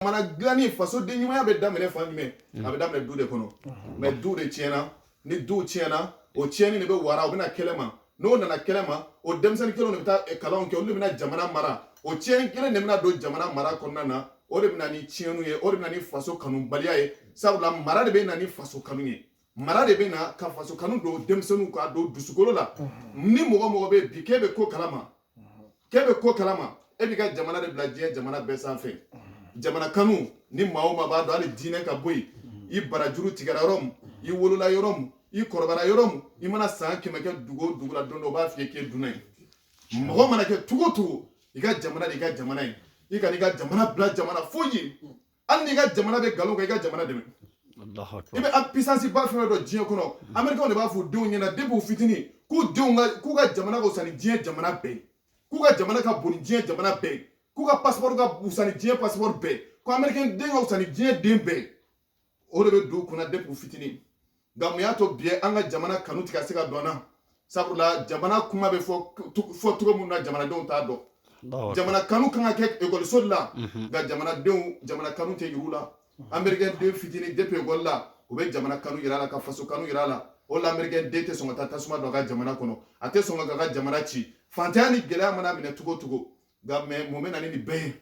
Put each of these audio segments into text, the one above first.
jamana dilanni faso den ɲumanya bɛ daminɛ fan jumɛn a bɛ daminɛ du de kɔnɔ mɛ du de tiɲɛna ni du tiɲɛna o tiɲɛni de bɛ wara o bɛ na kɛnɛ ma n'o nana kɛnɛ ma o denmisɛnnin kelenw de bɛ taa kalanw kɛ olu de bɛna jamana mara o tiɲɛni kelen de bɛna don jamana mara kɔnɔna na o de bɛ na ni tiɲɛniw ye o de bɛ na ni faso kanubaliya ye sabula mara de bɛ na ni faso kanu ye mara de bɛ na ka faso kanu don denmisɛnninw ka don dusukolo la ni mɔgɔ o mɔgɔ bɛ bi k'e bɛ ko kalama k'e bɛ ko kalama e b'i ka jamana de bila diɲɛ jamana bɛɛ sanfɛ jamana kanu ni maa o maa b'a dɔn hali diinɛ ka bɔ yen i barajuru tigɛra yɔrɔ min i wolola yɔrɔ min i kɔrɔbayara yɔrɔ min i mana san kɛmɛ kɛ dugu o dugu la don dɔ o b'a f'i ye k'e dunan ye mɔgɔ mana kɛ cogo o cogo i ka jamana de i ka jamana ye i kan'i ka jamana bila jamana foyi ye hali n'i ka jamana bɛ nkalon kan i ka jamana dɛmɛ i bɛ pisansi ba fɛn o fɛn dɔn diɲɛ kɔnɔ amerikɛnw de b'a fɔ u denw ɲɛna depi u fitinin k'u denw ka k'u ka jamana ka wusa ni diɲɛ jamana bɛɛ ye k'u ka jamana ka bon ni diɲɛ jamana bɛɛ ye k'u ka pasipɔri ka wusa ni diɲɛ pasipɔri bɛɛ ye ko amerikɛn den ka wusa ni diɲɛ den bɛɛ ye o de bɛ don u kunna depi u fitinin nka mun y'a to bi an ka jamana kanu ti ka se ka don an na sabula jamana kuma bɛ fɔ cogo min na jamanadenw t'a dɔn jamana kanu kan ka kɛ ekɔliso de la mhm. nka jamanadenw jamana kanu tɛ yir'u la mhm. amerikɛn den fitinin depi ekɔli la u bɛ jamana kanu yir'a la ka faso kanu yir'a la o la amerikɛn den tɛ sɔn ka taa tasuma don a ka jamana kɔnɔ a tɛ sɔn k'a ka jamana ci fantanya ni gɛlɛya man'a minɛ cogo o cogo nka mɛ mun bɛ na ni nin bɛɛ ye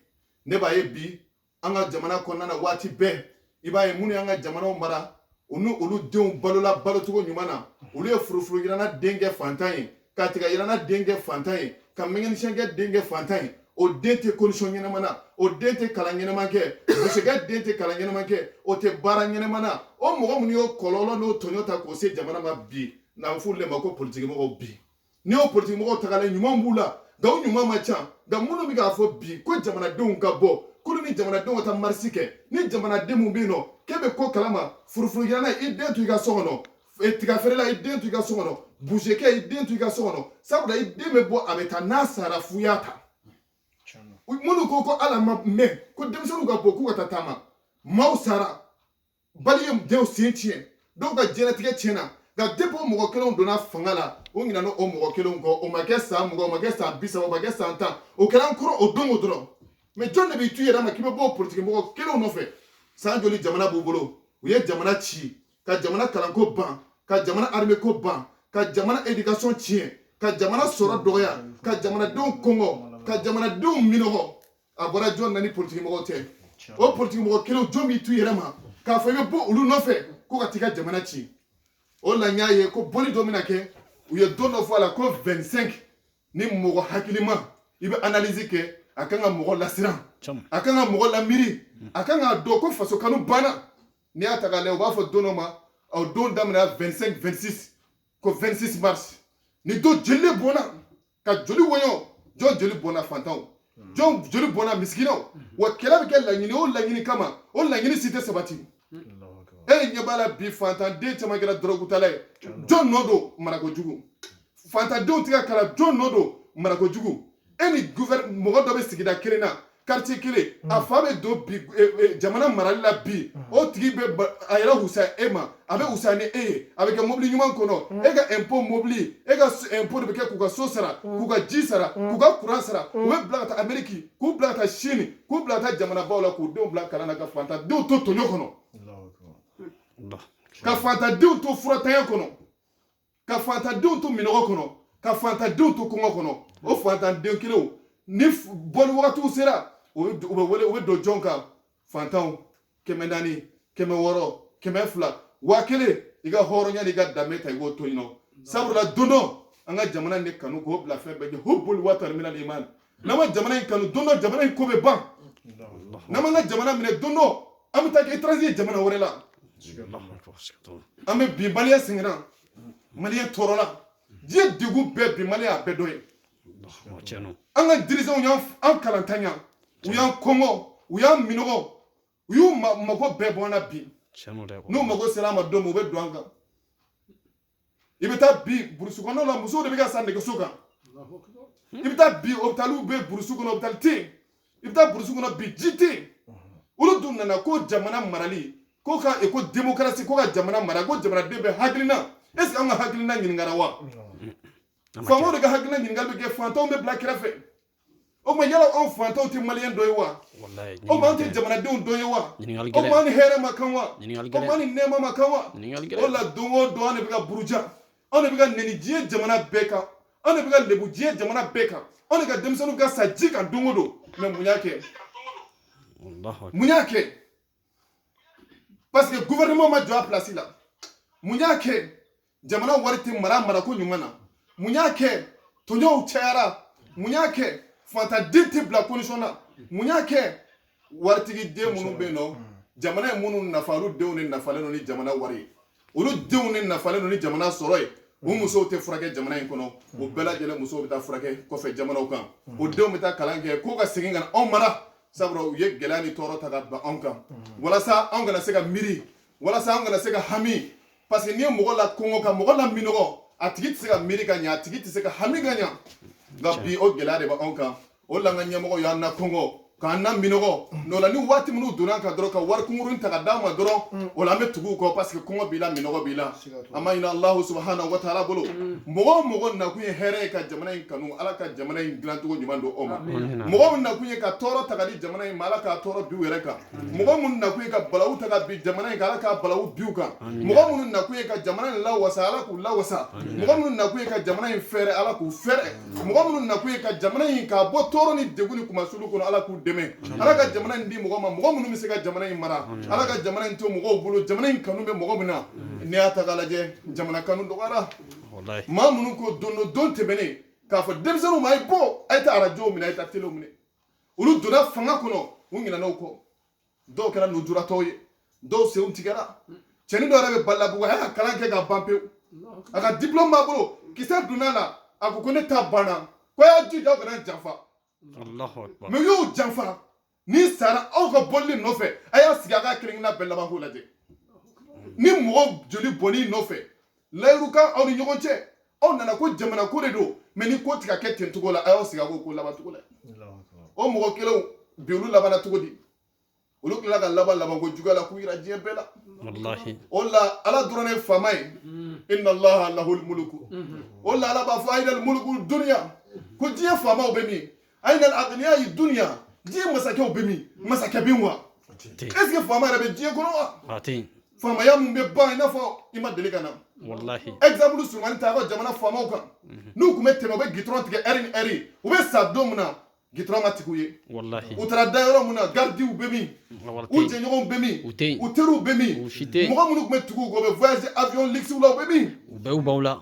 ne b'a ye bi an ka jamana kɔnɔna na waati bɛɛ i b'a ye minnu y'an ka jamanaw mara u ni olu denw balola balocogo ɲuman na olu ye furufuru yiranna den kɛ fantan ye ka tiga yiranna den kɛ fantan ye ka mekanisiyɛnkɛ den kɛ fantan ye o den tɛ condition ɲɛnama na o den tɛ kalan ɲɛnama kɛ busekɛ den tɛ kalan ɲɛnama kɛ o tɛ baara ɲɛnama na o mɔgɔ minnu y'o kɔlɔlɔ n'o tɔɲɔ ta k'o se jamana ma bi n'an f'olu de ma ko politikimɔgɔw bi n'i y'o politikimɔgɔw ta k'a lajɛ ɲuman b'u la nka o ɲuman man ca nka minnu bɛ k'a fɔ bi ko jamanadenw ka bɔ k'olu ni jamanadenw ka taa marisi kɛ ni jamanaden min bɛ yen nɔ k'e bɛ ko kalama furufurugilanna i den to i ka so kɔnɔ e, tigafeerela i den to i ka so kɔnɔ busekɛ i den to i ka so kɔnɔ sabula i den bɛ bɔ a bɛ taa n'a sara f'u y'a ta minnu ko ko ala ma mɛn ko denmisɛnninw ka bɔ k'u ka taa taama maaw sara bali ye denw sen tiɲɛ dɔw ka diɲɛlatigɛ tiɲɛna nka depi o mɔgɔ kelenw donna fanga la o ɲinana o mɔgɔ kelenw kɔ o ma kɛ san mugan o ma kɛ san bi saba o ma kɛ san tan o kɛra an kɔrɔ o don o dɔrɔn mɛ jɔn de b'i tu yɛrɛ ma k'i bɛ bɔ o politiki mɔgɔ kelenw nɔfɛ san joli jamana b'u bolo u ye jamana ci ka jamana kalanko ban ka jamana arimeko ban ka jamana edikasɔn tiɲɛ ka jamana sɔrɔ dɔgɔya ka jamanadenw kɔngɔ ka jamanadenw minɔgɔ a bɔra jɔn na ni politikimɔgɔw tɛ o politikimɔgɔ kelenw jɔn b'i tu yɛrɛ ma k'a fɔ i bɛ bɔ olu nɔfɛ ko ka t'i ka jamana ci o la n y'a ye ko bɔli dɔ bɛna kɛ u ye don dɔ fɔ a la ko 25 ni mɔgɔ hakilima i bɛ analyse kɛ a kan ka mɔgɔ lasiran a kan ka mɔgɔ lamiiri a kan k'a dɔn ko faso kanu banna n'i y'a ta k'a lajɛ u b'a fɔ don dɔ ma o don daminɛna 25 26 ko 26 mars ni don joli bɔnna ka joli woyo jɔn joli bɔnna fantanw hmm. jɔn joli bɔnna misikinaw hmm. wa kɛlɛ bɛ kɛ laɲini o laɲini kama o laɲini si tɛ sabati e ɲɛ b'a la bi fantanden caman kɛra dɔrɔgutala ye jɔn nɔ don marako jugu fantandenw tɛ ka kalan jɔn nɔ don marako jugu e ni mɔgɔ dɔ bɛ sigida kelen na quartier kelen a fa bɛ don bi jamana marali la bi o tigi bɛ a yɛrɛ wusaya e ma a bɛ wusaya ni e ye a bɛ kɛ mobili ɲuman kɔnɔ e ka impôt mobili e ka impôt de bɛ kɛ k'u ka so sara k'u ka ji sara k'u ka courant sara u bɛ bila ka taa Amérique k'u bila ka taa Chine k'u bila ka taa jamanabaw la k'u denw bila kalan na ka fantandenw to tɔɲɔ kɔnɔ ka fantandenw to furatanya kɔnɔ ka fantandenw to minɔgɔ kɔnɔ ka fantandenw to kɔngɔ kɔnɔ o fantandenw kelenw ni bɔli wagatiw sera u bɛ don jɔn kan fantanw kɛmɛ naani kɛmɛ wɔɔrɔ kɛmɛ fila waa kelen i ka hɔrɔnya n'i ka danbe ta i b'o to yen nɔ sabula don dɔ an ka jamana in de kanu k'o bila fɛn bɛɛ ɲɛ hubbul watani minal iman n'an ma jamana in kanu don dɔ jamana in ko bɛ ban n'an m'an ka jamana minɛ don dɔ an bɛ taa kɛ étranger ye jamana wɛrɛ la an bɛ bi maliyɛn sɛgɛnna maliyɛn tɔɔrɔla diɲɛ degun bɛɛ bi maliyɛn a bɛɛ dɔ ye an ka dirigeants y'an kalantanya u y'an kɔngɔ u y'an minɔgɔ u y'u mago bɛɛ bɔ an na bi n'u mago sera an ma don min u bɛ don an kan i bɛ taa bi burusi kɔnɔnaw la musow de bɛ ka sa nɛgɛso kan i bɛ taa bi hôpitaliw bɛ burusi kɔnɔ hôpital tɛ yen i bɛ taa burusi kɔnɔ bi ji tɛ yen olu dun nana ko jamana marali ko ka ko démocratie ko ka jamana mara ko jamanaden bɛɛ hakilina est ce que an ka hakilina ɲininkara wa faamaw de ka hakilina ɲininkali bɛ kɛ fantanw bɛ bila kɛrɛfɛ o tuma yala anw fantanw tɛ maliyɛn dɔ ye wa o tuma anw tɛ jamanadenw dɔ ye wa o tuma an ni hɛrɛ ma kan wa o tuma an ni nɛɛma ma kan wa o de la don o don an de bɛ ka buruja anw de bɛ ka nɛni diɲɛ jamana bɛɛ kan anw de bɛ ka lebu diɲɛ jamana bɛɛ kan anw de ka denmisɛnninw bɛ ka sa ji kan don o don mais mun y'a kɛ mun y'a kɛ parce que gouvernement ma jɔ a place la mun y'a kɛ jamana wari tɛ mara marako ɲuman na mun y'a kɛ tɔɲɔw cayara mun y'a kɛ fantaden tɛ bila condition na mun y'a kɛ waritigi den minnu bɛ yen n'o jamana ye minnu nafa olu denw de nafalen don ni jamana wari ye olu denw de nafalen don ni jamana sɔrɔ ye o musow tɛ furakɛ jamana in kɔnɔ o bɛɛ lajɛlen musow bɛ taa furakɛ kɔfɛ jamanaw kan o denw bɛ taa kalan kɛ k'u ka segin ka na anw mara sabula u ye gɛlɛya ni tɔɔrɔ ta ka bin anw kan walasa anw kana se ka miiri walasa anw kana se ka hami parce que n'i ye mɔgɔ lakɔngɔ ka mɔgɔ laminɔgɔ a tigi tɛ se ka miiri ka ɲɛ a tigi tɛ se ka hami ka ɲɛ nka bi o gɛlɛya de b'anw kan o la an ka ɲɛmɔgɔ y'an nakɔngɔ k'an naminɔgɔ n'o la ni waati minnu donna an kan dɔrɔn ka wari kunkurunnin ta ka d'an ma dɔrɔn o la an bɛ tugu u kɔ parce que kɔngɔ b'i la minɔgɔ b'i la an b'a ɲini alahu subahanahu wa taala bolo mɔgɔ o mɔgɔ nakun ye hɛrɛ ye ka jamana in kanu ala ka jamana in dilancogo ɲuman don o ma mɔgɔ min nakun ye ka tɔɔrɔ ta ka di jamana in ma ala k'a tɔɔrɔ bin u yɛrɛ kan mɔgɔ minnu nakun ye ka balawu ta ka bin jamana in kan ala ka balawu bin u kan mɔgɔ minnu nakun ye ka jamana in lawasa ala k'u lawasa mɔgɔ minnu nakun ye ka jamana in fɛrɛ ala k'u fɛrɛ mɔgɔ minnu nakun ye ka jamana in k'a bɔ tɔɔrɔ ni degun ni kunmasuli kɔnɔ ala k'u dɛmɛ ala ka jamana in di mɔgɔ ma mɔgɔ minnu bɛ se ka jamana in mara ala ka jamana in to mɔgɔw bolo jamana in kanu bɛ mɔgɔ min na n'i y'a ta k'a lajɛ jamana kanu dɔgɔyara maa minnu ko don don don tɛmɛnen k'a fɔ denmisɛnninw ma a ye bɔ a ye taa arajow minɛ a ye taa telew minɛ olu donna fanga kɔnɔ u ɲinɛna o kɔ dɔw kɛra nujuratɔw ye dɔw senw tigɛra cɛnin dɔ yɛrɛ bɛ balabugu a y'a ka kalan kɛ ka ban pewu a ka diplɔmu b'a bolo kisɛ donna a la a ko ko ne ta banna ko a y'a jija aw kana janfa mais u y'o janfa ni sara aw ka boli nɔfɛ a y'a sigi a ka kelen-kelenna bɛɛ labanko lajɛ ni mɔgɔ joli bɔnn'i nɔfɛ layiru kan aw ni ɲɔgɔn cɛ aw nana ko jamana ko de don mais ni ko tɛ ka kɛ ten cogo la a y'aw sigi k'o ko laban cogo la o mɔgɔ kelenw bi olu labanna cogo di olu tilala ka laban labanko juguya la k'u yira diɲɛ bɛɛ la o la ala dɔrɔn ne faama ye mm. inna allaha lahul muluku mm-hmm. o la ala b'a fɔ ayinal muluku duniya ko diɲɛ faamaw bɛ min aina al-aghniya dunya diɲɛ masakɛw bɛ min masakɛ bɛ wa est ce que faama yɛrɛ bɛ diɲɛ kɔnɔ wa faamaya mun bɛ ban i n'a fɔ i ma deli ka na walahi exemple surumannin ta an ka jamana faamaw kan n'u tun bɛ tɛmɛ u bɛ gitɔrɔn tigɛ ɛri ni ɛri u bɛ sa don min na gitɔrɔn ma tigɛ u ye walahi u taara da yɔrɔ min na garidiw bɛ min u jɛɲɔgɔnw bɛ min u teriw bɛ min mɔgɔ minnu tun bɛ tugu u kɔ u bɛ voyage avion luxe la u bɛ min u bɛɛ u b'aw la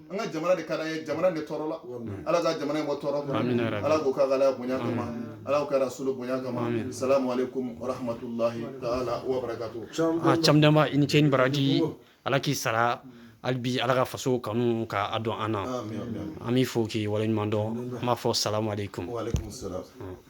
an ka jamana de ka d'an ye jamana de tɔɔrɔla ala ka jamana in bɔ tɔɔrɔ kɔnɔ ala k'o k'a ka alaya bonya kama ala k'o kɛ rasulu bonya kama salamu alaikum wa rahmatulahi taala wa barakatu a camdama i ni ce ni baraji ala k'i sara hali bi ala ka faso kanu k'a don an na an b'i fo k'i waleɲuman dɔn an b'a fɔ salamu alaikum